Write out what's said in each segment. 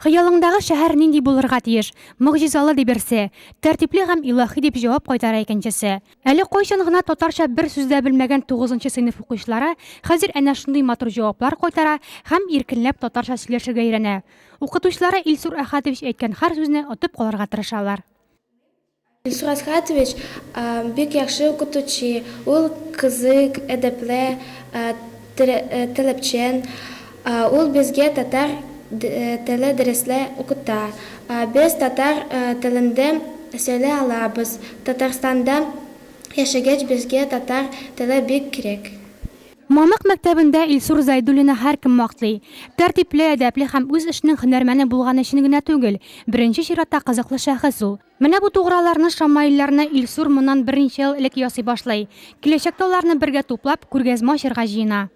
Хыялыңдагы шәһәр нинди булырга тиеш? Могҗизалы, ди берсе. Тәртипле һәм илаһи, дип җавап кайтара икенчесе. Әле кайчан гына татарча бер сүз дә белмәгән тугызынчы сыйныф укучылары хәзер әнә шундый матур җаваплар кайтара һәм иркенләп татарча сөйләшергә өйрәнә. Укытучылары Илсур Әхәтович әйткән һәр сүзне отып калырга тырышалар. Илсур Асхатович бик яхшы укытучы, ул кызык, әдәпле, таләпчән. Ул безгә татар теле дәресле укыта. Без татар телендә сөйлә алабыз. Татарстанда яшәгәч безгә татар теле бик кирәк. Мамык мәктәбендә Илсур Зәйдуллинны һәркем мактый. Тәртипле, әдәпле һәм үз эшенең һөнәрмәне булганы өчен генә түгел, беренче чиратта кызыклы шәхес ул. Менә бу туграларны, шамаилларны Илсур моннан берничә ел элек ясый башлый. Киләчәктә аларны бергә туплап, күргәзмә ачарга җыена.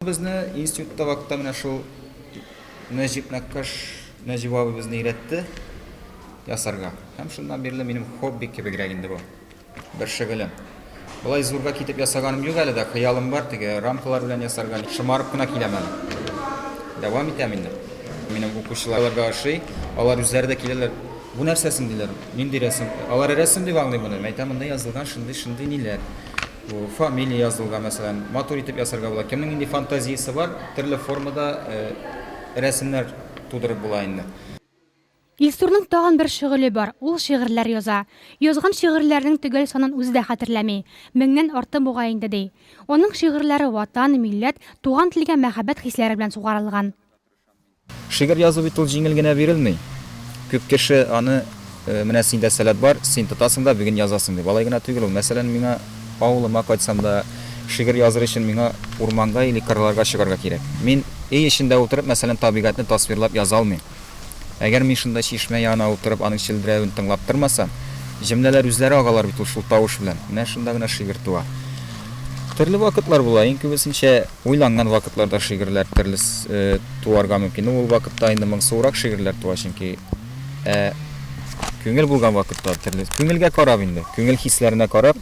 Безне институтта вакытта менә шул Нәҗип Нәккаш Нәҗип абый безне өйрәтте ясарга. Һәм шуннан бирле минем хобби кебегрәк инде бу. Бер шөгылем. Болай зурга китеп ясаганым юк әле дә, хыялым бар, теге рамкалар белән ясарга. Шомарып кына киләм әле. Дәвам итәм инде. Минем укучыларга ошый, алар үзләре дә киләләр. Бу нәрсә соң, диләр, нинди рәсем? Алар рәсем дип аңлый моны. Мин әйтәм, монда язылган шундый, шундый ниләр. Бу фамилия язылган, мәсәлән, матур итеп ясарга була. Кемнең нинди фантазиясе бар, төрле формада рәсемнәр тудырып була инде. Илсурның тагын бер шөгыле бар, ул шигырьләр яза. Язган шигырьләренең төгәл санын үзе дә хәтерләми, меңнән арты бугай инде, ди. Аның шигырьләре Ватан, милләт, туган телгә мәхәббәт хисләре белән сугарылган. Шигырь язу бит ул җиңел генә бирелми. Күп кеше аны, Менә синдә сәләт бар, син тотасың да бүген язасың, дип. Алай гына түгел ул. Мәсәлән, миңа авылыма кайтсам да, шигырь языр өчен миңа урманга или кырларга чыгарга кирәк. Мин өй эчендә утырып, мәсәлән, табигатьне тасвирлап яза алмыйм. Әгәр мин шунда чишмә янына утырып аның челберәвен тыңлап тормасам, җөмләләр үзләре агалар бит ул шул тавыш белән. Менә шунда гына шигырь туа. Төрле вакытлар була, иң күбесенчә уйланган вакытларда шигырьләр төрле туарга мөмкин. Ну, ул вакытта инде моңсуырак шигырьләр туа, чөнки. Ә күңел булган вакытта төрле, күңелгә карап инде, күңел хисләренә карап,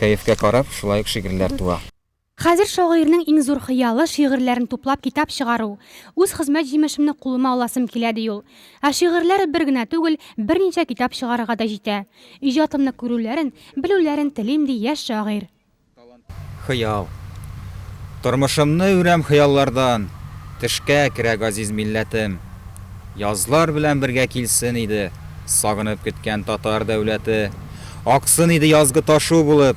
кәефкә карап, шулай ук шигырьләр туа. Хәзер шагыйрьнең иң зур хыялы, шигырьләрен туплап китап чыгару. Үз хезмәт җимешемне кулыма аласым килә, ди ул. Ә шигырьләре бер генә түгел, берничә китап чыгарырга да җитә. Иҗатымны күрүләрен, белүләрен телим, ди яшь шагыйрь. Хыял. Тормышымны үрәм хыяллардан, Төшкә керә газиз милләтем. Язлар белән бергә килсен иде, Сагынып көткән татар дәүләте. Аксын иде язгы ташу булып.